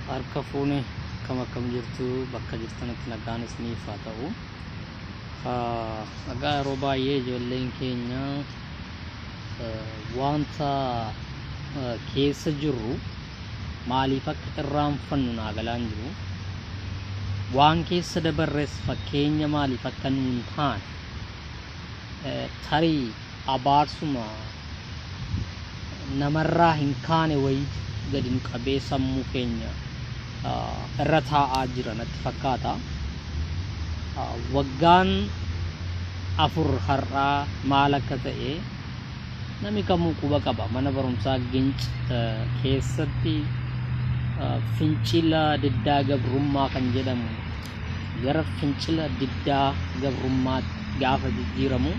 harka fuune akkam akkam jirtu bakka jirtanitti nagaan isiniif haa ta'u nagaa yeroo baay'ee ijoolleen keenya wanta keessa jirru maaliif akka irraanfannu naa galaan jiru waan keessa dabarres fakkeenya maaliif akka nuun taane tarii abaarsuma namarraa hin kaane wayiitu gadi nu qabee sammuu keenya irra taa'aa jira natti fakkaata. Waggaan afur har'aa maal akka ta'e namni kamuu quba qaba. Mana barumsaa Ginc keessatti fincila diddaa gabrummaa kan jedhamu gara fincila diddaa gabrummaatti gaafa jijjiiramu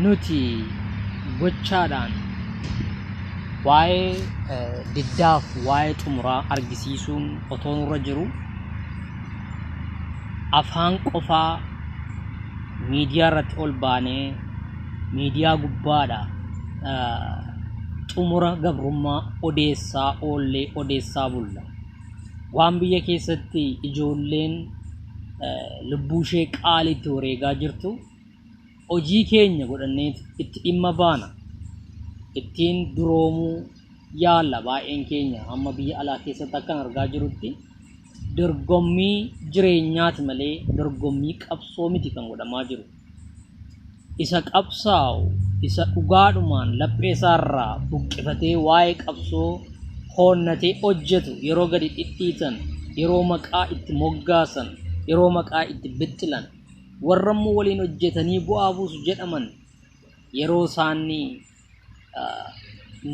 nuti gochaadhaan waa'ee diddaaf waa'ee xumuraa argisiisuun otoo nurra jiru afaan qofaa miidiyaa irratti ol baanee miidiyaa gubbaadha xumura gabrummaa odeessaa oollee odeessaa bulla. Waan biyya keessatti ijoolleen lubbuu ishee qaali itti wareegaa jirtu hojii keenya godhannee itti dhimma baana. Ittiin duroomuu yaalla baay'een keenya amma biyya alaa keessatti akkan argaa jirutti dorgommii jireenyaati malee dorgommii qabsoo miti kan godhamaa jiru. isa qabsaa'u isa dhugaadhumaan laphee isaarraa buqqifatee waa'ee qabsoo hoonnatee hojjetu yeroo gadi dhidhiitan yeroo maqaa itti moggaasan yeroo maqaa itti bixxilan warra immoo waliin hojjetanii bu'aa buusu jedhaman yeroo isaanii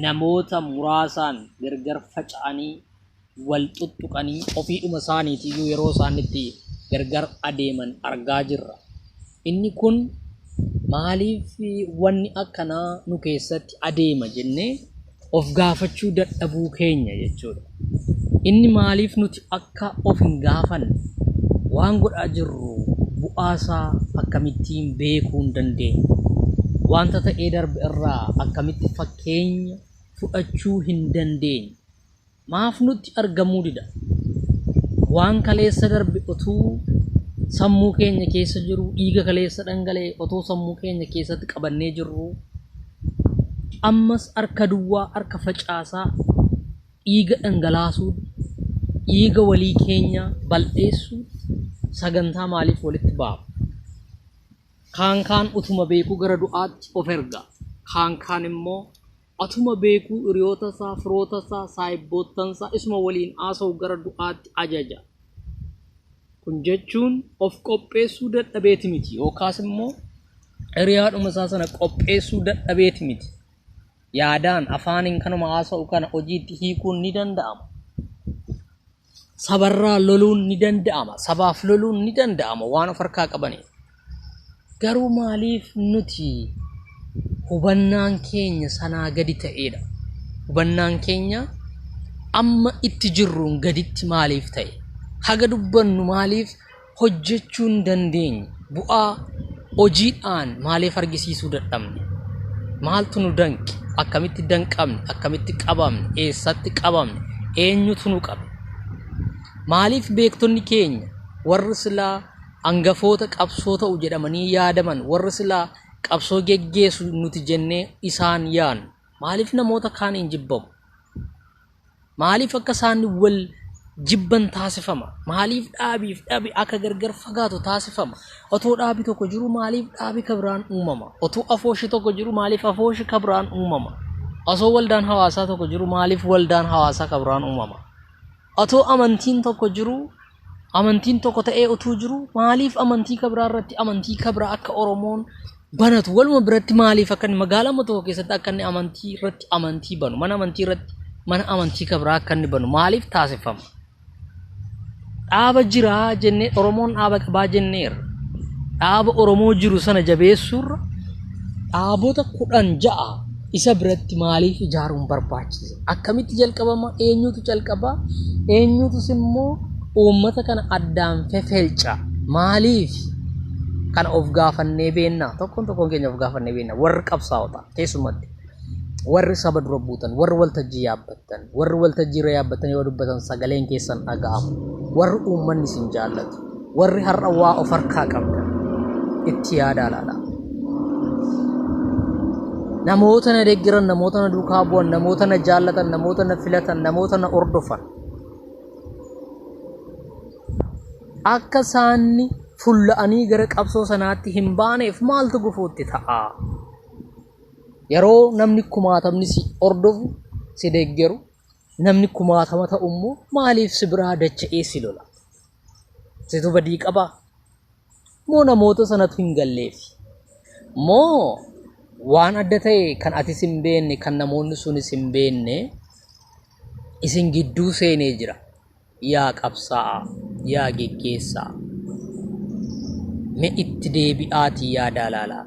namoota muraasaan gargar faca'anii wal xuxxuqanii ofiidhuma isaaniitiyyuu yeroo isaan itti gargar adeeman argaa jirra. Inni kun maaliif wanni akkanaa nu keessatti adeema jennee of gaafachuu dadhabuu keenya jechuudha. Inni maaliif nuti akka of hin gaafanne waan godhaa jirru bu'aasaa akkamittiin beekuu hin dandeenye? Wanta ta'ee darbe irraa akkamitti fakkeenya fudhachuu hin dandeenye? maaf nutti argamuu dida? Waan kaleessa darbe otuu sammuu keenya keessa jiru, dhiiga kaleessa dhangala'e otoo sammuu keenya keessatti qabannee jirru, ammas harka duwwaa, harka facaasaa, dhiiga dhangalaasuu, dhiiga walii keenya bal'eessuu sagantaa maaliif walitti baafna? Kaan kaan utuma beekuu gara du'aatti of erga. Kaan kaan immoo Atuma beekuu hiriyootasaa, firootasaa, saahibboottansaa isuma waliin haasawu gara du'aatti ajaja. Kun jechuun of qopheessuu dadhabeeti miti yookaas immoo hiriyaadhuma isaa sana qopheessuu dadhabeeti miti. Yaadaan, afaaniin kanuma haasa'u kana hojiitti hiikuun ni danda'ama. sabarraa loluun ni danda'ama sabaaf loluun ni danda'ama waan of harkaa qabaniif garuu maaliif nuti hubannaan keenya sanaa gadi ta'eedha hubannaan keenya amma itti jirruun gaditti maaliif ta'e haga dubbannu maaliif hojjechuu hin dandeenye bu'aa hojiidhaan maaliif argisiisuu dadhabne maaltu nu danqe akkamitti danqamne akkamitti qabamne eessatti qabamne eenyutu nu qabe maaliif beektonni keenya warri silaa angafoota qabsoo ta'u jedhamanii yaadaman warri silaa qabsoo geggeessu nuti jennee isaan yaanu maaliif namoota kaaniin jibbamu Maaliif akka isaan wal jibban taasifama? Maaliif dhaabiif dhabi akka gargar fagaatu taasifama? Otoo dhaabi tokko jiru maaliif dhaabi kabiraan uumama? Otoo afooshi tokko jiru maaliif afooshi kabiraan uumama? Osoo waldaan hawaasaa tokko jiru maaliif waldaan hawaasaa kabiraan uumama? Otoo amantiin tokko jiru amantiin tokko ta'ee utuu jiru maaliif amantii kabraa irratti amantii kabraa akka Oromoon banatu waluma biratti maaliif akka inni magaalaa amma tokko keessatti akka inni amantii irratti amantii banu mana amantii irratti mana amantii kabraa akka inni banu maaliif taasifama? Dhaaba jiraa jennee Oromoon dhaaba qabaa jenneerra. Dhaaba Oromoo jiru sana jabeessuurra dhaabota kudhan ja'a isa biratti maaliif ijaaruun barbaachise? Akkamitti jalqabama? Eenyutu calqaba? Eenyutus immoo uummata kana addaan fefelca? Maaliif? Kana of gaafannee beenna. Tokkoon tokkoon keenya of gaafannee beenna. Warri qabsaa'ota keessumatti. Warri saba dura buutan, warri waltajjii yaabbattan, warri waltajjii irra yaabbattan yoo dubbatan sagaleen keessan dhaga'amu, warri uummanni isin jaallatu. Warri har'a waa of harkaa qabdan itti yaadaa laalaa. Namoota na deeggaran, namoota na duukaa bu'an, namoota na jaallatan, namoota na filatan, namoota na hordofan. Akka isaanni fulla'anii gara qabsoo sanaatti hin baaneef maaltu gufuutti ta'a? Yeroo namni kumaatamni si hordofu, si deeggaru, namni kumaatama ta'u immoo maaliif si biraa dacha'ee si lola? Situ badii qabaa? Moo namoota sanatu hin galleef? Moo waan adda ta'e kan atis hin beekne kan namoonni sunis hin beekne isin gidduu seenee jira. Yaa qabsaa'aa, yaa geggeessaa. Me itti deebi'aatii yaadaa laalaa.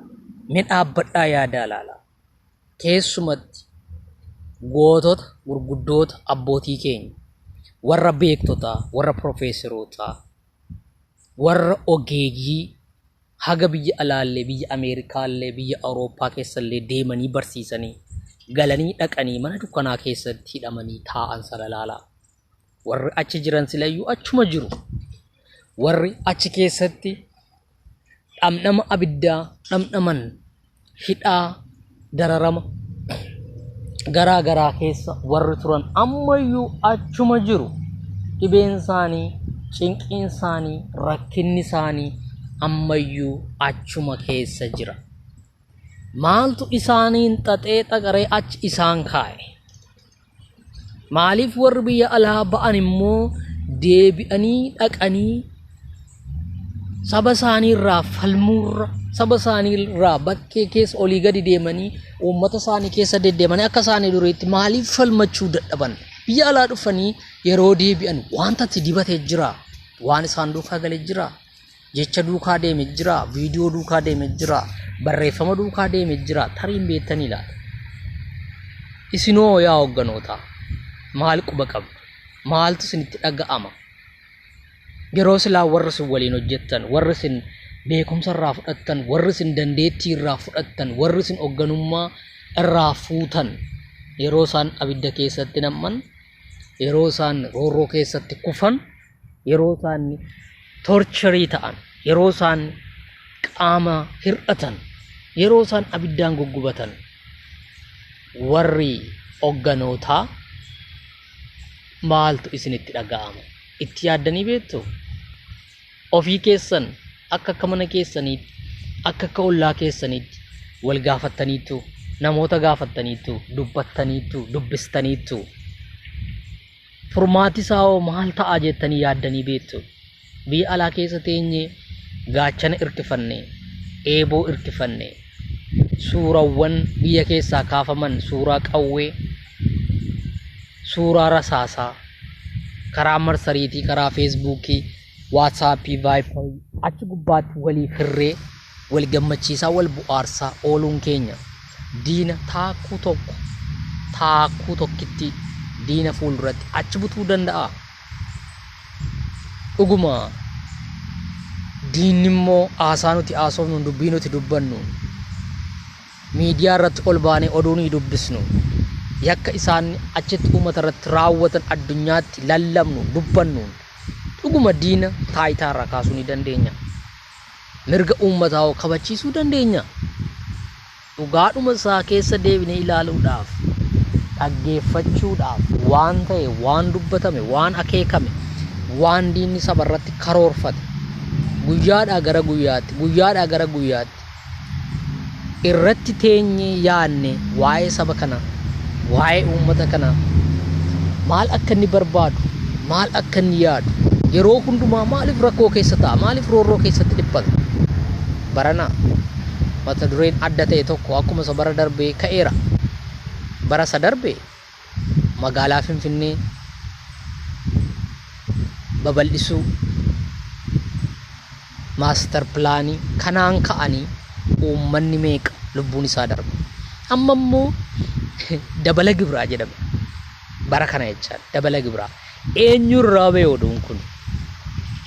Me dhaabbadhaa yaadaa laalaa. keessumatti gootota gurguddoota abbootii keenya warra beektotaa warra profeeserootaa warra ogeeyyii haga biyya alaallee biyya ameerikaallee biyya awurooppaa keessallee deemanii barsiisanii galanii dhaqanii mana dukkanaa keessatti hidhamanii taa'an sana ilaalaa warri achi jiran silayyuu achuma jiru warri achi keessatti dhamdhama abiddaa dhamdhaman hidhaa dararama garaa garaa keessa warri turan ammayyuu achuma jiru dhibeen isaanii cinqiin isaanii rakkinni isaanii ammayyuu achuma keessa jira maaltu isaaniin xaxee xaqaree achi isaan kaa'e maaliif warri biyya alaa ba'an immoo deebi'anii dhaqanii saba isaanii irraa falmuurra saba isaanii irraa bakkee keessa olii gadi deemanii uummata isaanii keessa deddeemanii akka isaanii duriitti maaliif falmachuu dadhaban biyya alaa dhufanii yeroo deebi'an wanta itti dibate jira waan isaan duukaa gale jira Jecha duukaa deeme jira, viidiyoo duukaa deeme jira, barreeffama duukaa deeme jira, tarii hin beektanii laata? Isinoo yaa hogganootaa maal quba qabdu? Maaltu isinitti dhaga'ama? Yeroo silaa warri isin waliin hojjettan, warri isin beekumsa irraa fudhattan, warri isin dandeettii irraa fudhattan, warri isin hogganummaa irraa fuutan yeroo isaan abidda keessatti nam'an, yeroo isaan roorroo keessatti kufan yeroo isaan torcherii ta'an, yeroo isaan qaama hir'atan, yeroo isaan abiddaan guggubatan warri hogganootaa maaltu isinitti dhaga'ama? Itti yaaddanii beektu? Ofii keessan akka akka mana keessaniitti, akka akka ollaa keessaniitti wal gaafattaniittu, namoota gaafattaniittu, dubbattaniittu, dubbistaniittu. Furmaati isaa hoo maal ta'a jettanii yaaddanii beektu? Biyya alaa keessa teenye gaachana irkifanne, eeboo irkifanne, suurawwan biyya keessaa kaafaman suuraa qawwee, suuraa rasaasaa karaa marsariitii, karaa feesbuukii Waatsaappii, Vaayiparii achi gubbaatti waliif hirree wal gammachiisaa wal bu'aarsaa ooluun keenya diina taakkuu tokko taakkuu tokkitti diina fuulduratti achi butuu danda'a. Dhuguma diinni immoo haasaa nuti haasofnu dubbii nuti dubbannu Miidiyaa irratti ol baanee oduu nuyi dubbisnu, yakka isaan achitti uummata irratti raawwatan addunyaatti lallabnu, dubbannuun dhuguma diina taayitaa irraa kaasuu ni dandeenya. Mirga uummataa hoo kabachiisuu dandeenya? Dhugaadhuma isaa keessa deebinee ilaaluudhaaf, dhaggeeffachuudhaaf waan ta'e, waan dubbatame, waan akeekame, waan diinni saba irratti karoorfate guyyaadhaa gara guyyaatti, guyyaadhaa gara guyyaatti irratti teenyee yaadne waa'ee saba kanaa waa'ee uummata kanaa maal akka inni barbaadu maal akka inni yaadu yeroo hundumaa maaliif rakkoo keessa ta'a maaliif roorroo keessatti dhiphata barana mata dureen adda ta'e tokko akkuma isa bara darbee ka'eera bara isa darbee magaalaa Finfinnee babal'isuu maastar pilaanii kanaan ka'anii uummanni meeqa lubbuun isaa darba. Amma immoo dabala gibiraa jedhame. Bara kana jechaa dabala gibiraa. Eenyurraa ba'e oduun kun?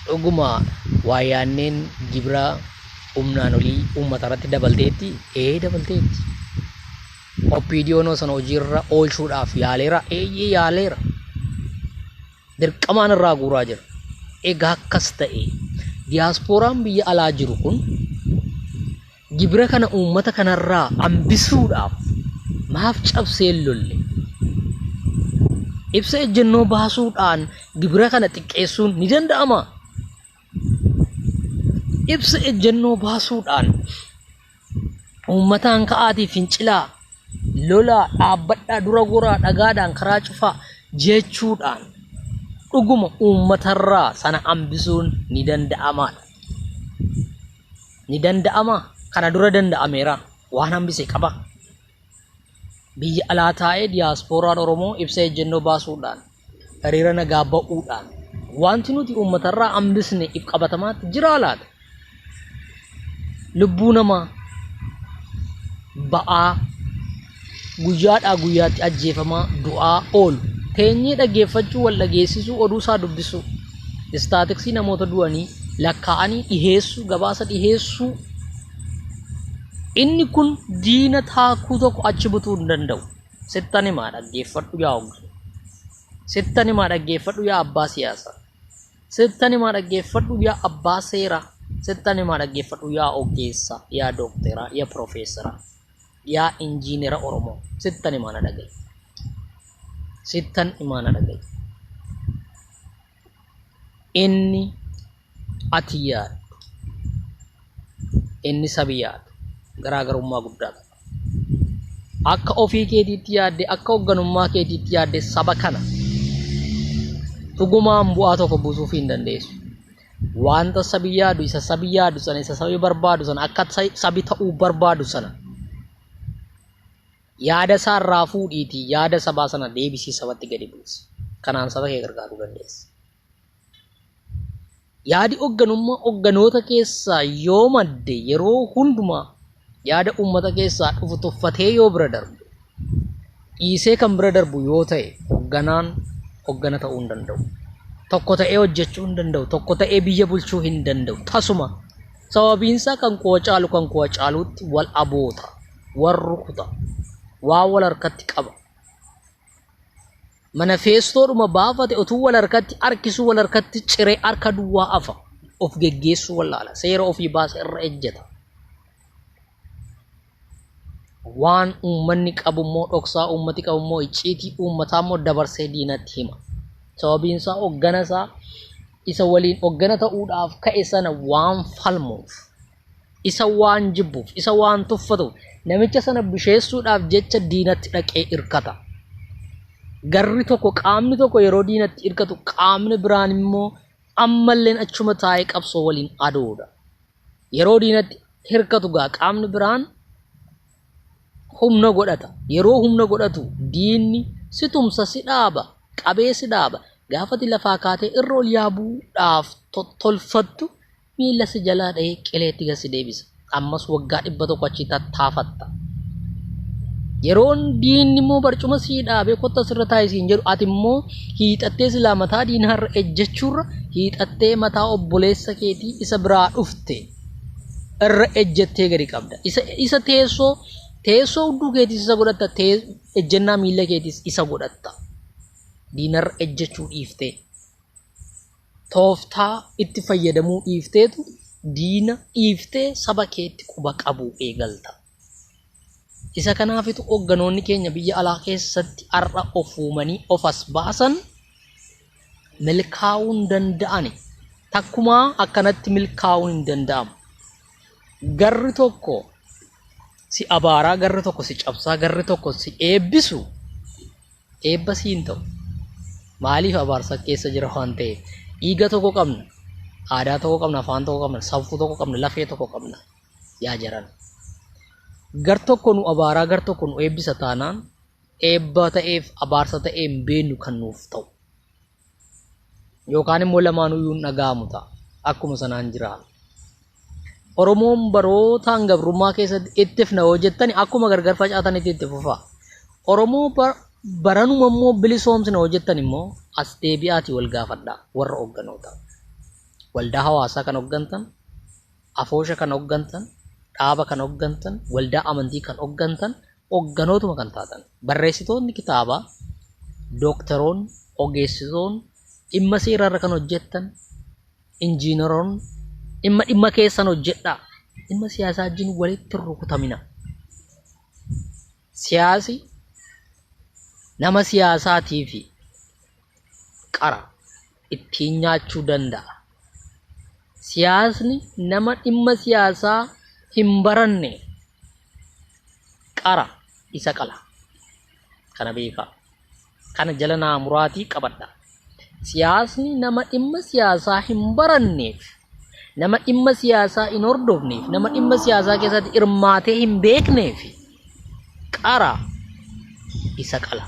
Dhuguma waa yaanneen gibiraa humnaan olii uummata irratti dabalteetti? Ee dabalteetti. OPDOn sana hojiirra oolchuudhaaf yaaleera. Eeyyee yaaleera. Dirqamaan irraa guuraa jira. Egaa akkas ta'e diyaaspooraan biyya alaa jiru kun gibira kana uummata kanarraa hambisuudhaaf maaf cabsee hin lolle? Ibsa ejjennoo baasuudhaan gibira kana xiqqeessuun ni danda'ama. ibsa ejjennoo baasuudhaan uummataan ka'aatii fincilaa lolaa dhaabbadhaa dura goraa dhagaadhaan karaa cufaa jechuudhaan dhuguma uummatarraa sana hambisuun ni danda'amaadha. Ni danda'ama kana dura danda'ameera waan hambise qaba. Biyya alaa taa'ee diyaaspooraan Oromoo ibsa ejjennoo baasuudhaan, hiriira nagaa ba'uudhaan wanti nuti uummatarraa hambisne if qabatamaatti jiraa laata? Lubbuu namaa ba'aa guyyaadhaa guyyaatti ajjeefamaa du'aa oolu teenyee dhaggeeffachuu wal dhageessisuu oduu isaa dubbisuu istaatiksii namoota du'anii lakkaa'anii dhiheessuu gabaasa dhiheessuu Inni kun diina taakuu tokko achi butuu hin danda'u. Sittan himaa dhaggeeffadhu yaa ogge. Sittan himaa dhaggeeffadhu yaa abbaa siyaasaa. Sittan himaa dhaggeeffadhu yaa abbaa seeraa. Sittan himaa dhaggeeffadhu yaa oggeessaa, yaa dookteraa, yaa piroofeesaraa, yaa injiinera Oromoo. Sittan himaa na dhaga'i. Sittan himaa na dhaga'i. inni ati yaaddu inni sabi yaadu garaagarummaa guddaa qaba. Akka ofii keetiitti yaadde akka hoogganummaa keetiitti yaadde saba kana dhugumaan bu'aa tokko buusuuf hin dandeessu. Wanta sabi yaadu isa sabi yaadu sana isa sabi barbaadu sana akka sabi ta'uu barbaadu sana Yaada isaa irraa fuudhiitii yaada sabaa sana deebisii sabatti gadi buusi. Kanaan saba kee gargaaruu dandeessa. Yaadi hogganummaa hogganoota keessaa yoo madde yeroo hundumaa yaada uummata keessaa dhufu tuffatee yoo bira darbu dhiisee kan bira darbu yoo ta'e hogganaan hoggana ta'uu hin danda'u. Tokko ta'ee hojjechuu hin danda'u. Tokko ta'ee biyya bulchuu hin danda'u. Tasuma sababiinsaa kan kuwa caalu kan kuwa caaluutti wal aboota. wal rukuta waa wal harkatti qaba mana feestoodhuma baafate otuu wal harkatti harkisuu wal harkatti ciree harka duwwaa afa of geggeessuu wallaala seera ofii baasa irra ejjeta waan uummanni qabu immoo dhoksaa uummati qabu immoo icciitii uummataa immoo dabarsee diinatti hima sababiin isaa hoggana isaa isa waliin hoggana ta'uudhaaf ka'e sana waan falmuuf isa waan jibbuuf isa waan tuffatuuf namicha sana busheessuudhaaf jecha diinatti dhaqee irkata. Garri tokko qaamni tokko yeroo diinatti irkatu qaamni biraan immoo ammalleen achuma taa'ee qabsoo waliin aduudha. Yeroo diinatti hirkatu gaa qaamni biraan humna godhata. Yeroo humna godhatu diinni si tumsa si dhaaba qabee si dhaaba. Gaafati lafaa kaatee irra ol yaabuudhaaf tolfattu Miila si jalaa dhahee qileetti gad si deebisa. Ammas waggaa dhibba tokko achi tattaafatta. Yeroon diinni immoo barcuma sii dhaabee kotta sirra taa'e siin jedhu ati immoo hiixattee silaa mataa diinaa irra ejjechuurra hiixattee mataa obboleessa keetii isa biraa dhufte irra ejjettee gadi qabda. Isa, isa teessoo teessoo hudduu keetis isa godhatta tee, ejjennaa miila keetis isa godhatta. Diinarra ejjechuu dhiiftee. tooftaa itti fayyadamuu dhiifteetu diina dhiiftee saba keetti quba qabuu eegalta. Isa kanaafitu hogganoonni keenya biyya alaa keessatti har'a of uumanii of as baasan milkaa'uu hin danda'ani. Takkumaa akkanatti milkaa'uun hin danda'amu. Garri tokko si abaaraa, garri tokko si cabsaa, garri tokko si eebbisu Eebba si hin ta'u. Maaliif abaarsa keessa jira waan ta'eef. Dhiiga tokko qabna. Aadaa tokko qabna, afaan tokko qabna, safuu tokko qabna, lafee tokko qabna. Yaa jaran. Gar tokko nu abaaraa gar tokko nu eebbisa taanaan eebba ta'eef abaarsa ta'ee hin beeknu kan nuuf ta'u. Yookaan immoo lamaanuu iyyuu hin dhaga'amu ta'a. Akkuma sanaan jira. Oromoon barootaan gabrummaa keessatti itti fna yoo jettani akkuma gargar facaatanitti itti fufa. Oromoo bar- baranuma immoo bilisoomsina yoo jettan immoo as deebi'aati wal gaafadha warra hogganoota. Waldaa hawaasaa kan hoggantan, afoosha kan hoggantan, dhaaba kan hoggantan, waldaa amantii kan hoggantan Hogganootuma kan taatan, barreessitoonni kitaabaa, dooktaroonni, ogeessitoonni, dhimma seeraa irra kan hojjettan, injiinaroonni, dhimma dhimma keessan hojjedhaa. Dhimma siyaasaa wajjin walitti hin rukutamina. Siyaasi nama siyaasaatiifi. qara ittiin nyaachuu danda'a. Siyaasni nama dhimma siyaasaa hin baranne qara isa qala. Kana beekaa. Kana jala naa muraatii qabadha. Siyaasni nama dhimma siyaasaa hin baranneef Nama dhimma siyaasaa hin hordofneef, nama dhimma siyaasaa keessatti hirmaatee hin beekneef qara isa qala.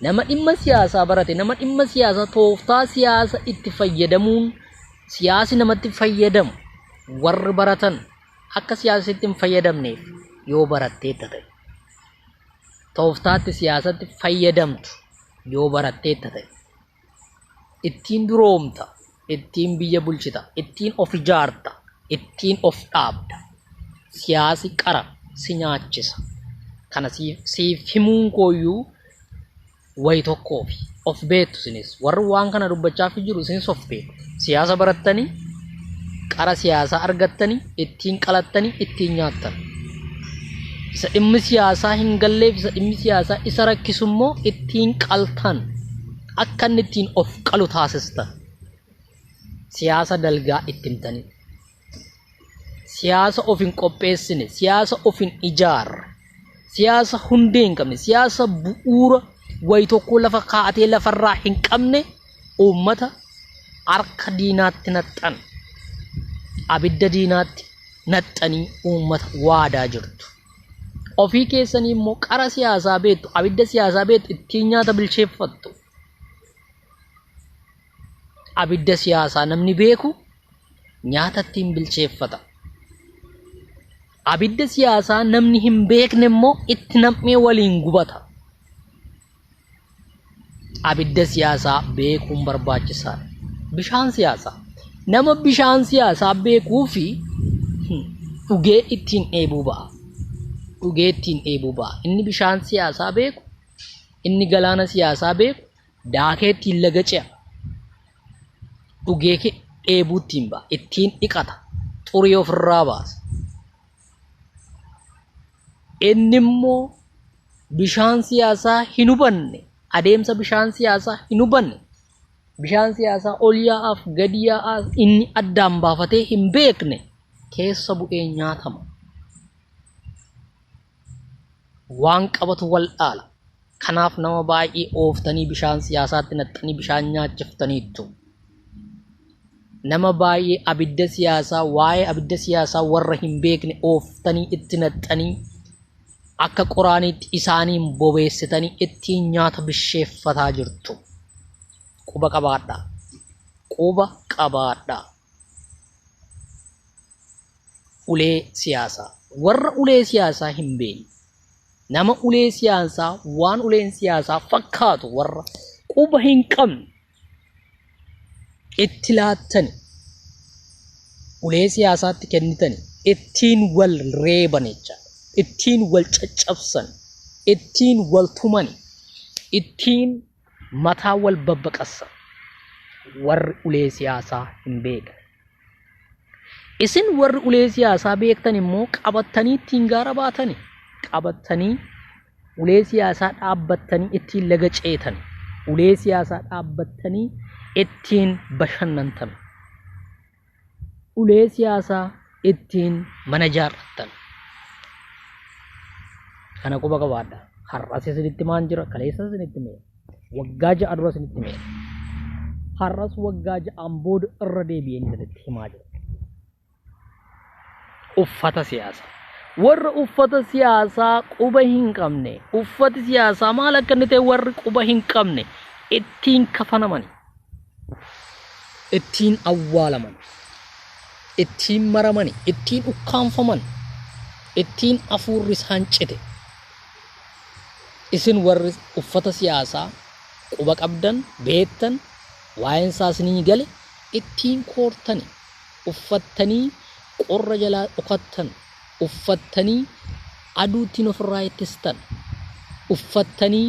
Nama dhimma siyaasaa barate, nama dhimma siyaasaa tooftaa siyaasa itti fayyadamuun siyaasi namatti fayyadamu warri baratan akka siyaasitti hin fayyadamneef yoo baratteetta ta'e. Tooftaatti siyaasatti fayyadamtu yoo baratteetta ta'e. ittiin duroomta, ittiin biyya bulchita, ittiin of ijaarta, ittiin of dhaabda. Siyaasi qara si nyaachisa. Kana siif, siif himuun kooyyuu wayi tokkoofi. Of beektu isinis. Warri waan kana dubbachaafii jiru isinis of beektu. Siyaasa barattanii qara siyaasaa argattanii ittiin qalattanii ittiin nyaattan. Isa dhimmi siyaasaa hin galleef isa dhimmi siyaasaa isa rakkisu immoo ittiin qaltan akka inni ittiin of qalu taasistan. Siyaasa dalgaa itti himtanii. siyaasa of hin qopheessine siyaasa of hin ijaarre siyaasa hundee hin qabne siyaasa bu'uura wayi tokko lafa kaa'atee lafarraa hin qabne uummata harka diinaatti naxxan abidda diinaatti naxxanii uummata waadaa jirtu. Ofii keessanii immoo qara siyaasaa beektu abidda siyaasaa beektu ittiin nyaata bilcheeffattu. abidda siyaasaa namni beeku nyaata ittiin bilcheeffata. Abidda siyaasaa namni hin beekne immoo itti nam'ee waliin gubata. Abidda siyaasaa beekuun barbaachisaadha. Bishaan siyaasaa. Nama bishaan siyaasaa beekuu fi dhugee ittiin dheebuu ba'a. Dhugee ittiin dheebuu ba'a. Inni bishaan siyaasaa beeku, inni galaana siyaasaa beeku, Daakee ittiin laga ce'a. Dhugee ke- dheebuu ittiin ba'a. Ittiin dhiqata. Xurii ofirraa baasa. Inni immoo bishaan siyaasaa hin hubanne, adeemsa bishaan siyaasaa hin hubanne, bishaan siyaasaa ol yaa'aaf gadi yaa'aa inni addaan baafatee hin beekne keessa bu'ee nyaatama. waan qabatu wal dhaala. Kanaaf nama baay'ee ooftanii bishaan siyaasaatti naxxanii bishaan nyaachiftaniittu. Nama baay'ee abidda siyaasaa waa'ee abidda siyaasaa warra hin beekne ooftanii itti naxxanii akka qoraaniitti isaaniin bobeessitanii ittiin nyaata bisheeffataa jirtu. Quba qabaadhaa. Quba qabaadhaa. Ulee siyaasaa. Warra ulee siyaasaa hin beekne. Nama ulee siyaasaa waan uleen siyaasaa fakkaatu warra quba hin qabne itti laattani ulee siyaasaatti kennitani ittiin wal reeban jecha ittiin wal caccabsan ittiin wal tumani ittiin mataa wal babbaqassa warri ulee siyaasaa hin beekne. Isin warri ulee siyaasaa beektan immoo qabattanii ittiin gaara baatani. Qabattanii ulee siyaasaa dhaabbattanii ittiin laga ceetan. Ulee siyaasaa dhaabbattanii ittiin bashannantan. ulee siyaasaa ittiin mana ijaarrattan. Kana quba qabaadha. Har'as isinitti maan jira, kaleessas isinitti mee. Waggaa ja'a dura isinitti mee. Har'as waggaa ja'aan booda irra deebi'een isinitti himaa jira. uffata siyaasa. Warra uffata siyaasaa quba hin qabne, uffati siyaasaa maal akka inni ta'e warri quba hin qabne ittiin kafanamani, ittiin awwaalaman, ittiin maramani, ittiin ukkaanfaman, ittiin afuurri isaan cite. Isin warri uffata siyaasaa quba qabdan, beektan, waa'een isaa isinii gale ittiin koortani. uffattanii qorra jalaa dhokattan, uffattanii aduu ittiin ofirraa ittistan, uffattanii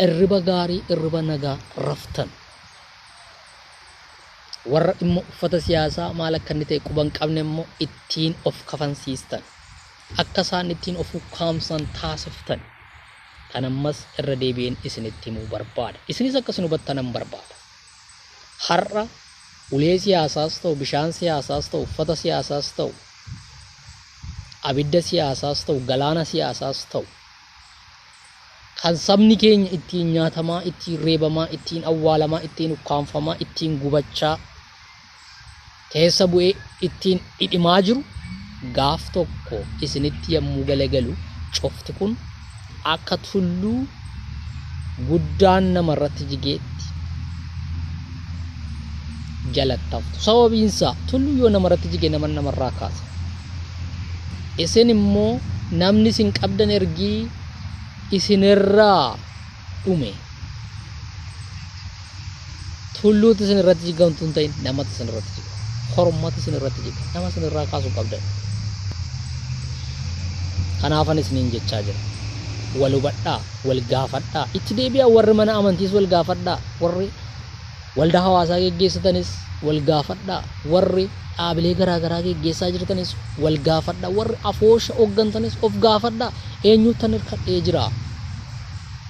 irriba gaarii, irriba nagaa raftan. Warra dhimma uffata siyaasaa maal akka inni ta'e quba hin qabne immoo ittiin of kafansiistan. Akka isaan ittiin of ukkaamsan taasiftan. Kan ammas irra deebi'een isinitti himuu barbaada. Isinis akka isin hubattan nan barbaada. Har'a ulee siyaasaas ta'u, bishaan siyaasaas ta'u, uffata siyaasaas ta'u, abidda siyaasaas ta'u, galaana siyaasaas ta'u, kan sabni keenya ittiin nyaatamaa, ittiin reebamaa, ittiin awwaalamaa, ittiin ukkaamfamaa, ittiin gubachaa, keessa bu'ee ittiin dhidhimaa jiru gaaf tokko isinitti yommuu galagalu cufti kun akka tulluu guddaan namarratti jigeetti jalattaftu. Sababiinsaa tulluu yoo namarratti jige nama namarraa kaasa. Isin immoo namni isin qabdan ergii isinirraa dhume. Tulluutti isin irratti jiggan utuu hin ta'in namatti isin irratti jigga. Kormatti isin irratti jigga. Nama isin irraa kaasuu qabdan. Kanaafan isiniin jechaa jira. Wal hubadhaa, wal gaafadhaa. Itti deebi'aa warri mana amantiis wal gaafadhaa. Warri waldaa hawaasaa geggeessitanis wal gaafadhaa. Warri dhaabilee garaa garaa geggeessaa jirtanis wal gaafadhaa. Warri afoosha hooggantanis of gaafadhaa. Eenyuttan hirkadhee jira?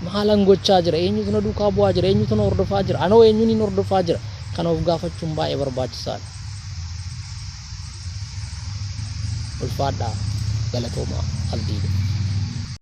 Maalan gochaa jira? Eenyutu na duukaa bu'aa jira? Eenyutu na hordofaa jira? Anoo eenyunin hordofaa jira? Kana of gaafachuun baay'ee barbaachisaadha. Ulfaadhaa, galatoomaa, abdiidha.